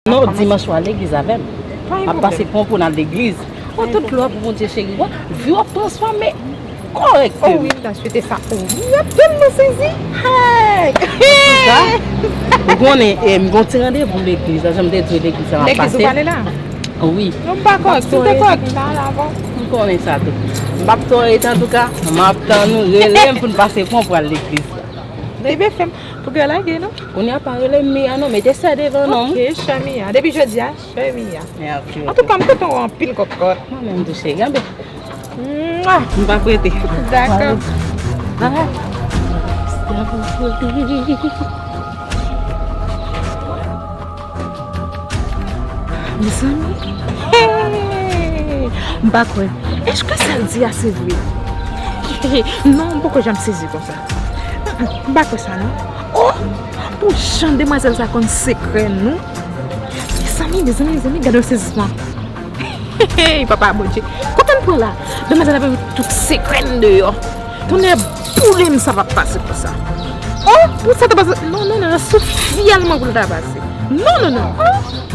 Non dimanche wal legliz avèm. Map pase pran pou nal legliz. Ou tout glwa pou Bondye cheri wap viw wap transfòme korèk seum. Oh wi mta swete sa pou ou. Map tèlman sezi. Antouka ou konnen em gon ti randevou legliz la janm te diw legliz la map pase. Legliz ou pale la? Wi. Non mpa korèk tou te korèk mta al avèw. M konnen sa tou. Mpap tòre antouka map tann ou relem poun pase pran pwal legliz la. Bebe fèm. Pou gè lage non. Kounye a pa rele m Mia non mete sè devan non. Ok chè Mia. Depi jodi a chè Mia. Antouka m kontan w anpil kokot. Mwen menm tou cheri anbe. M pa prete. Dako. Bye. Mezanmi M pa kwè Eske sa l di a se vre Non m poko janm sezi konsa M pa kwè sa non Oh Pou jan demwazèl sa konn sekrè nou Mezanmi mezanmi mezanmi gade yon sezisman Hey papa bondye Kote m pran la Demwazel la bay tout sekrè m deyò Tonnè boule m sa pap pase konsa Oh pou sa ta pase Non non non sou fyèl mwen pou l ta pase Non non non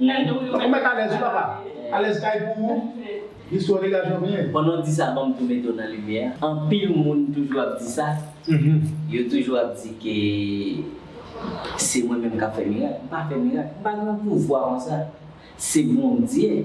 Ou met alez wi papa. Alez kay pou ou. Istwa dega jovnel. Pandan w di sa banm tou mete w nan limyè a anpil moun toujou ap di sa yo toujou ap di ke se mwen menm kap fè mirak m pa fè mirak m pa gen yon pouvwa konsa se Bondye.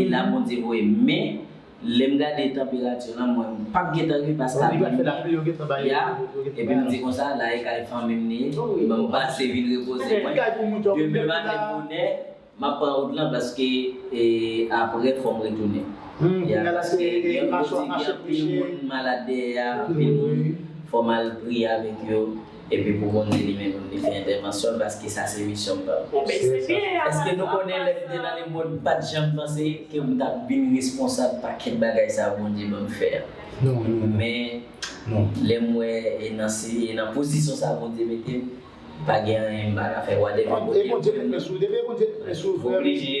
e la Bondye voye m men lèm gade tanperati lan m wè m pap gentan rive paske apre midi a epi m di konsa la e kay fanmi m ni ban m pase vin repoze mwen demen maten bonè map pran wout lan paske apre fòm retounen ya paske gen kote gen anpil moun malad dèyè a anpil moun fòm al priye avèk yo. Epi pou moun di li menm pou li fè entèvansyon l paske sa se misyon pam. Eske nou konnen lè m te nan lemond m pat janm panse ke m tap vin responsab pakèt bagay sa Bondye banm fè a. Men lè m wè e nan pozisyon sa Bondye mete m pa gen anyen m pa ka fè whatever Bondye voye m nan. Oblije.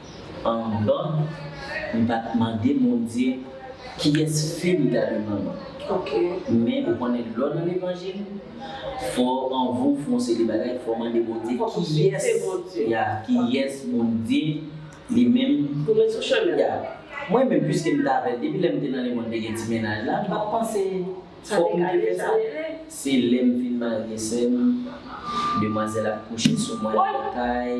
Anvan m pa t mande Bondye kiyès fi li ta dwe pran nan. Men ou konnen lè w nan levanjil fò anvan w fè yon seri bagay fò w mande Bondye kiyès ya kiyès Bondye li menm pou met sou chemen w ya. Mwen menm piske m t avè l depi lè m te nan lemond te gen ti mennaj la m pa t panse fòk m te fè sa. Se lè m fin marye sè m demwazèl ap kouche sou mwen nan kay.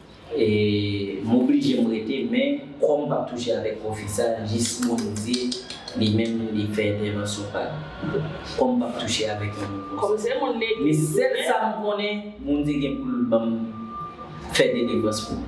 M oblije m rete men kò m pap touche avèk pwofit sa jis Bondye li menm li fè entèvansyon pa l. Kò m pap touche avèk yon moun konsa. Men sèl sa m konnen Bondye gen pou l ban m fè delivrans pou m.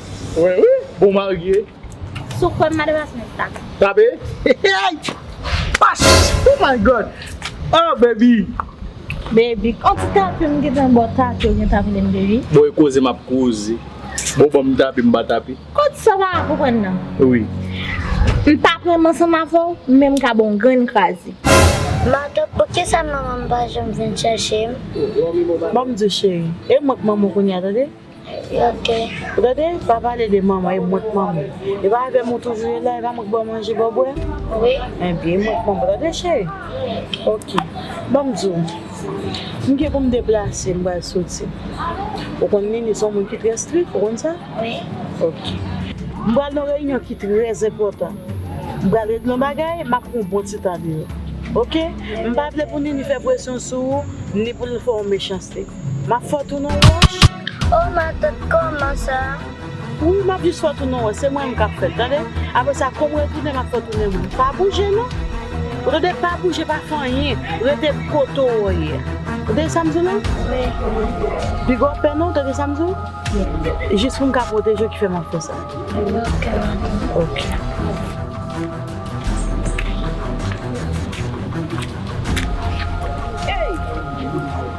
Wè wi bon marye. Sou kwem madan ras mwen ta. Tape eyy pas oh my God oh baby. Baby on ti tape m gentan baw tape ou gentan vle m baby. Bon e koze map koze bon banm tape m ba tape. Kot sa pa konprann nan. Wi. M pa pranm ansanm avèw men m ka baw yon grenn kraze. Madan poukisa manmanm pa janm vin chèche m. Banm diw cheri e mwen k manman w kounya tande. Ou tande, pa pale de manman, e mwen k manman. E pa avè m ou toujou ye la, e pa mwen k ba w manje, ba w bwè? Enben, e mwen k manman, tande cheri? Ok, ban m di w, m gen pou m deplase, m pral soti. Ou konn Nini se yon moun ki trè strik, ou konn sa? Ok. M pral nan yon reyinyon ki trè enpòtan. M pral regle yon bagay, m ap pran yon bon ti tan deyò. Ok? M pa vle pou Nini fè presyon sou ou, ni pou l fè w yon mechanste. Map fè w tounen w wòch. Oh matant kòman sa. Wi map jis fè w tounen w wòch se mwen menm kap fèt tande aprè sa kou m retounen map fè w tounen w moun pa bouje non ou tande pa bouje pa fè anyen rete kote w ye ou tande sa m di w la wi pi gwo pè non ou tande sa m di w wi jis pou m ka pwoteje w ki fè map fè sa ok matant ok.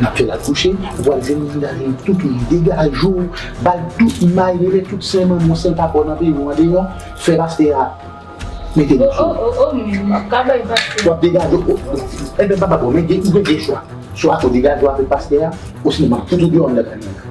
Nap fèl akouche, wal jwenn moun nan li toutou li degaje w, bal tout may rele tout sen manman w sèl papa w nan peyi w an deyò, fè pastè a mete li sou ou. Oh oh oh men wap ka bay pastè. Wap degaje w oh oh oh. Ebyen papa bon men ou gen 2 chwa, swa ou degaje w avèk pastè a osnon map fout ou deyò anndan kantin an.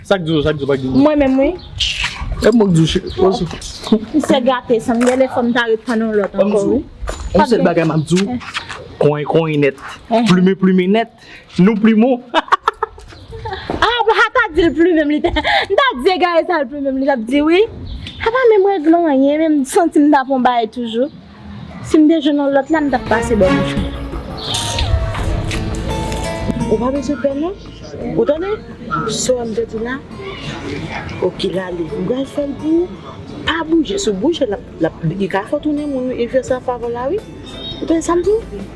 Sak di w sak di w pa k di m. Mwen menm wi. Epi mwen k di w cheri. M se gate san m gen lè fò m ta ret tann yon lòt ankò wi. Yon sèl bagay m ap di w. Konyen konyen nèt. Plumen plumen nèt. Nou plumen w. A bon ha ta di l plumen m li ta. M ta di egare sa l plumen m li t ap di wi. Apa menm règlan anyen menm m santi m ta pran bagay toujou. Sim te jwenn yon lòt la mtap pase bò michan. Ou pa bezwen pè non ou tande sewèm te di la ok lale mpral fèl pou ou pa bouje sou bouje lap li ka fè ou tounen moun wi il fè sa favor la wi ou tande sam diw.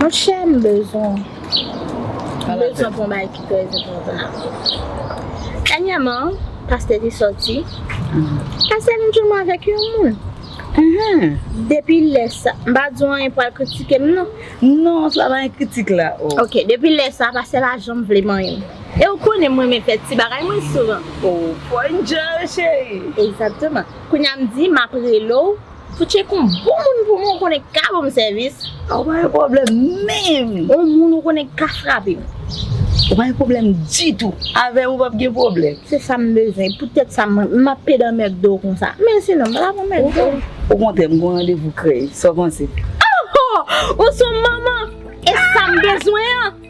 Monchè m bezwen m bezwen pou yon bagay ki trè enpòtan dènyèman pastè te sòti pastè vin jwenn mwen avèk yon moun depi lè sa m pa di w anyen pou al kritike m non non sa pa gen kritik la oo ok depi lè sa pastè pa janm vle m anyen e w konnen m renmen fè ti bagay mwen souvan oo pwòy m djanl cheri egzakteman kounye a m di m ap rele w. Fouchie kon bon moun pou mwen ou konnen ka banm sèvis. Ou pa gen pwoblèm menm. On moun ou konnen ka frapem. Ou pa gen pwoblèm ditou. Avèm ou pap gen pwoblèm. Se sam bezwen. Pou tèt sa map pede an mcdo konsa. Men si non m pata pran mcdo. Okontrè m gen yon randevou krèy. Sa w panse? Aho! Ou son manman! E sam bezwen an!